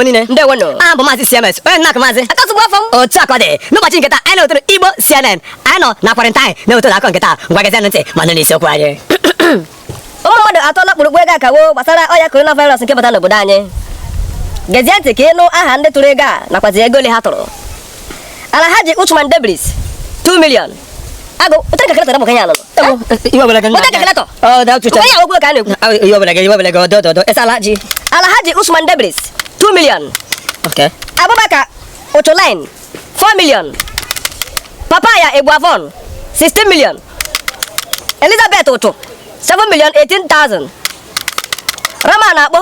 Igbo niile ndewo nụ aha m bụ maazị CMS onye nna maazị akasụgbu afọ m otu akụkọ dị n'ụbọchị nke taa anyị na-ewetara Igbo CNN anyị nọ na quarantine na-ewetara akụkọ nke taa ngwa gezienụ ntị ma nụ n'isiokwu anyị ụmụ mmadụ atụọla kpụrụkpụ ego akawo gbasara ọya coronavirus nke bata n'obodo anyị gezie ntị ka ịnụ aha ndị tụrụ ego a nakwazi ego ole ha tụrụ Alhaji Usman Debris 2 million ago ụtara calculator bụ kanya anụnụ iwe ọbụla gị ụtara calculator ọ da ụtụcha ụtara ya ọgwụgwụ ka a na-ekwu iwe ọbụla gị iwe ọbụla gị ọdọ ọdọ esa Alhaji Alhaji Usman Debris 2 million okay Abubakar Ocholain 4 million Papaya Egbuavon 16 million Elizabeth Otu 7 million 18,000 Rama na-akpọ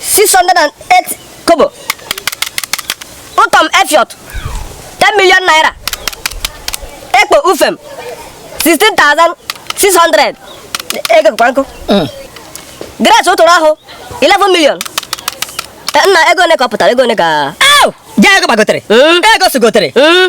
608 kobo Utom Efiot 10 million naira Ekpo Ufem 16,600 ego kwa nkụ mm. Grace ụtụrụ ahụ 11 million eh, nna ego one ka ọ pụtara ego one ka ego gbagotere hmm? ego sigotere hmm?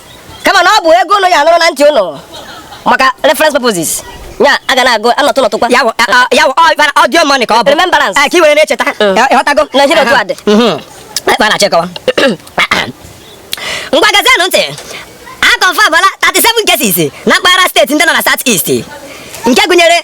kama na ọ bụ ego ụnụ ya-anụrụ na ntị ụnụ maka reference purposes ya a ga na-agụ anọtụ nọtụkwa ya wụ a- a- ya wụ ọ- ịbara audio money ka ọ bụ Remembrance. Eh, ka i were na-echeta Mm. Eh, ịghọtago Na ihe dị otu a dị. Mhm. Ebe a na-achọ ịkọwa ngwa gezienụ ntị a confirmala 37 cases na mpaghara steeti ndị nọ na south east nke gụnyere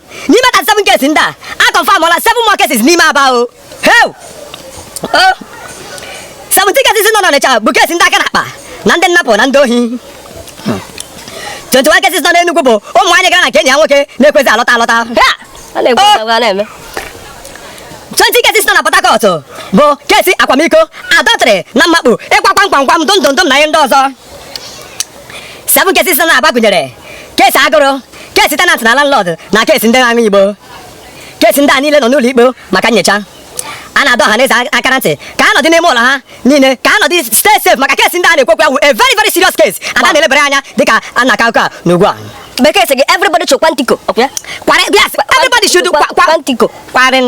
n'ime thirty seven cases ndị a a confirmala seven more cases n'ime Aba o heu o seventeen cases nọ n'Ọnịcha bụ case ndị aka n'akpa na ndị nnapụ na ndị ohi 21 cases nọ n'Enugwu bụ ụmụ nwaanyị gara na nke enyi ya nwoke na-ekwezi alọta alọta Ha! A na-ekwu Oh! agwa na-eme. 20 cases nọ na Port Harcourt bụ case akwamiko adọtrị na mmakpu ịkwa kwamkwamkwam dụndụndụm na ihe ndị ọzọ 7 cases nọ n'Aba gụnyere case agụrụ case tenant na landlord na case ndị na-aṅụ igbo case ndị a niile nọ n'ụlọ ikpe maka nyocha a na-adọ ọha na eze aka na ntị ka a nọdị n'ime ụlọ ha niile ka a nọdị stay safe maka case ndị a na-ekwu okwu ya wụ a very very serious case a ga na-elebara anya dịka a na-akọ akụkọ a n'ugbu a bekee sị gị everybody should kwantico ọkwa ya Kware- yes, everybody should kwa- kwa- kwantico kwarin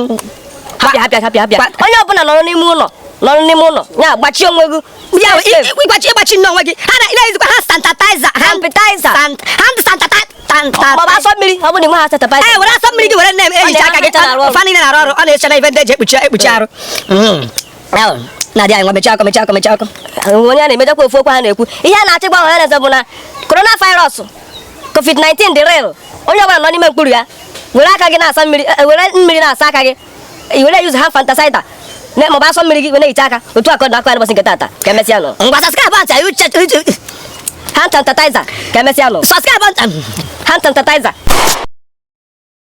hapụ ya hapụ ya hapụ ya hapụ ya Kwa- onye ọbụla nọrọ n'ime ụlọ nọrọ n'ime ụlọ ya gbachie onwe gị ya ịgbachi ịgbachi nne onwe gị ha na-ejikwa hand sanitizer sanitizer hand sanitizer asọ mmiri ọ bụrụ na hand sanitizer i were asọ mmiri gị were na-ehicha aka gị fa niile na-arụ ọrụ ọ na-eche na ife ndị eji ekpuchi ekpuchi arụ na-adị anyị nwa mechaa akụkọ mechaa akụkọ mechaa akụkọ onye a na-emejekwa ofu okwu ha na-ekwu ihe a na-achọ ịgwa ọha na eze bụ na coronavirus covid-19 dị real onye ọbụla nọ n'ime mkpuru ya were aka gị na-asa mmiri were mmiri na-asa aka gị i were use hand sanitizer maọbụ asọ mmiri gị wee na-ehicha aka otu akụkọ na akọ ya n'ụbọchị nke tata ka emesịa nụ ngwa subscribe ntị anyị use use hand sanitizer ka emesịa nụ subscribe ntị hand sanitizer